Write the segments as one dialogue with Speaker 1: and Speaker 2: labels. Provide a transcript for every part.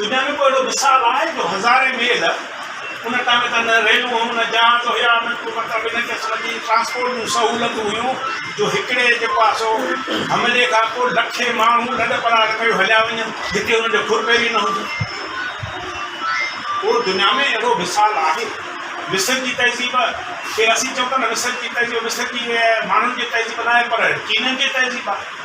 Speaker 1: دنيا ۾ ڪو اهڙو مثال آهي جو هزارين ميل ان ٽائيم ۾ ته نه ريلون نه جهاز هيا نه ڪو مطلب ان قسم جي ٽرانسپورٽ جون سهولتون هيون جو هڪڙي جيڪو آهي سو حملي کان پوء لکين ماڻهو لڏ پلاڻ ڪيو هليا وڃن جتي انهن جو ڦر پير ئي نه هجي. ڪو دنيا ۾ اهڙو مثال آهي؟ مصر جي تهذيب کي اسين چئون ٿا نه مصر جي تهذيب مصر جي ماڻهن جي تهذيب ناهي پر چينن جي تهذيب آهي.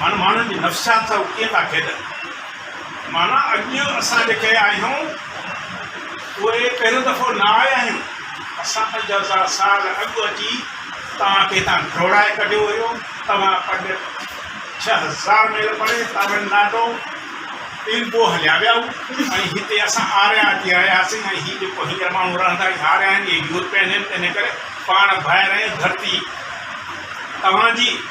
Speaker 1: هاڻ ماڻهن جي نفسيات سان هو ڪيئن ٿا کيڏن. معنيٰ اڄ اسان جيڪي آهيون اهي پهريون دفعو نه آيا آهيون. اسان پنج هزار سال اڳ اچي توهان کي هتان ڊوڙائي ڪڍيو هيو. توهان پنج ڇهه هزار ميل پري تامل ناڊو، پيلبو هليا ويا هو ۽ هتي اسان آريا اچي رهياسين ۽ هي جيڪو هينئر ماڻهو رهندا اهي آريا آهن، اهي يورپين آهن تنهنڪري پاڻ ڀائر ۽ ڌرتي توهان جي.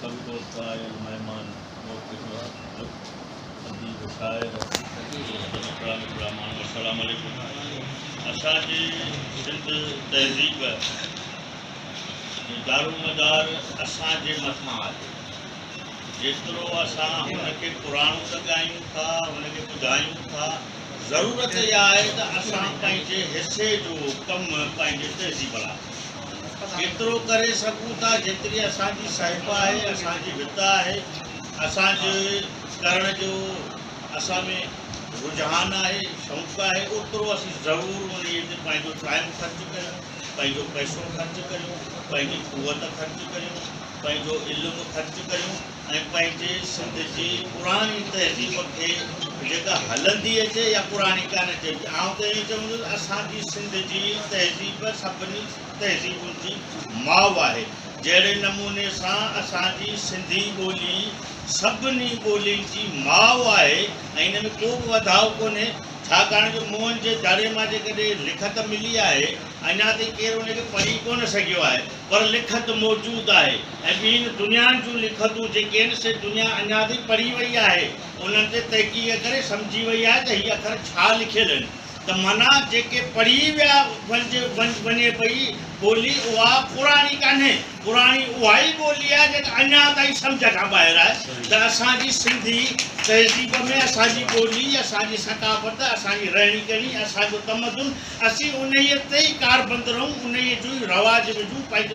Speaker 2: سڀ دوست آيل مهمان موقف ها لک
Speaker 3: اديب شاعر. سڀ نکرا نکرا ماڻهو السلام عليڪم اسان جي سنڌ تهذيب جو دارومدار اسان جي مٿان آهي جيترو اسان هن کي پراڻو ته ڳايون ٿا هن کي ٻڌايون ٿا ضرورت اها آهي ته اسان پنهنجي حصي جو ڪم پنهنجي تهذيب لاء ايترو ڪري سگهون ٿا جيتري اسان جي صحيفه آهي، اسان جي وت آهي، اسان جي ڪرڻ جو اسان ۾ رجحان آهي، شوق آهي، اوترو اسين ضرور انهيء تي پنهنجو ٽائيم خرچ ڪريون، پنهنجو پئسو خرچ ڪريون، پنهنجي قوت خرچ ڪريون، پنهنجو علم خرچ ڪريون. ۽ پنهنجي سنڌ جي پراڻي تهذيب کي جيڪا هلندي اچي يا پراڻي ڪانه چئبي آئون ته ائين چوندس اسان جي سنڌ جي تهذيب سڀني تهذيبن جي ماء آهي جهڙي نموني سان اسان جي سنڌي ٻولي سڀني ٻولين جي ماء آهي ۽ ان ۾ ڪو به وڌاء ڪونهي ڇاڪاڻ جو موهن جي دڙي مان جيڪڏهن لکت ملي آهي اڃا تائين ڪير ان کي پڙهي ڪونه سگهيو آهي پر لکت موجود آهي ۽ ٻين دنيائن جون لکتون جيڪي آهن سي دنيا اڃا تائين پڙهي وئي آهي انهن تي تحقيق ڪري سمجهي وئي آهي ته هي اکر ڇا لکيل آهن ته معنيٰ جيڪي پڙهي ويا وڃي پئي ٻولي اها پراڻي ڪانهي پراڻي اها ئي ٻولي آهي جيڪا اڃا تائين سمجهه کان ٻاهر آهي ته اسان جي سنڌي تهذيب ۾ اسان جي ٻولي اسان جي ثقافت اسان جي رهڻي ڪهڻي اسان جو تمدن اسين انهيء تي ئي ڪاربند رهون، انهيء جو ئي رواج وجهون، پنهنجو.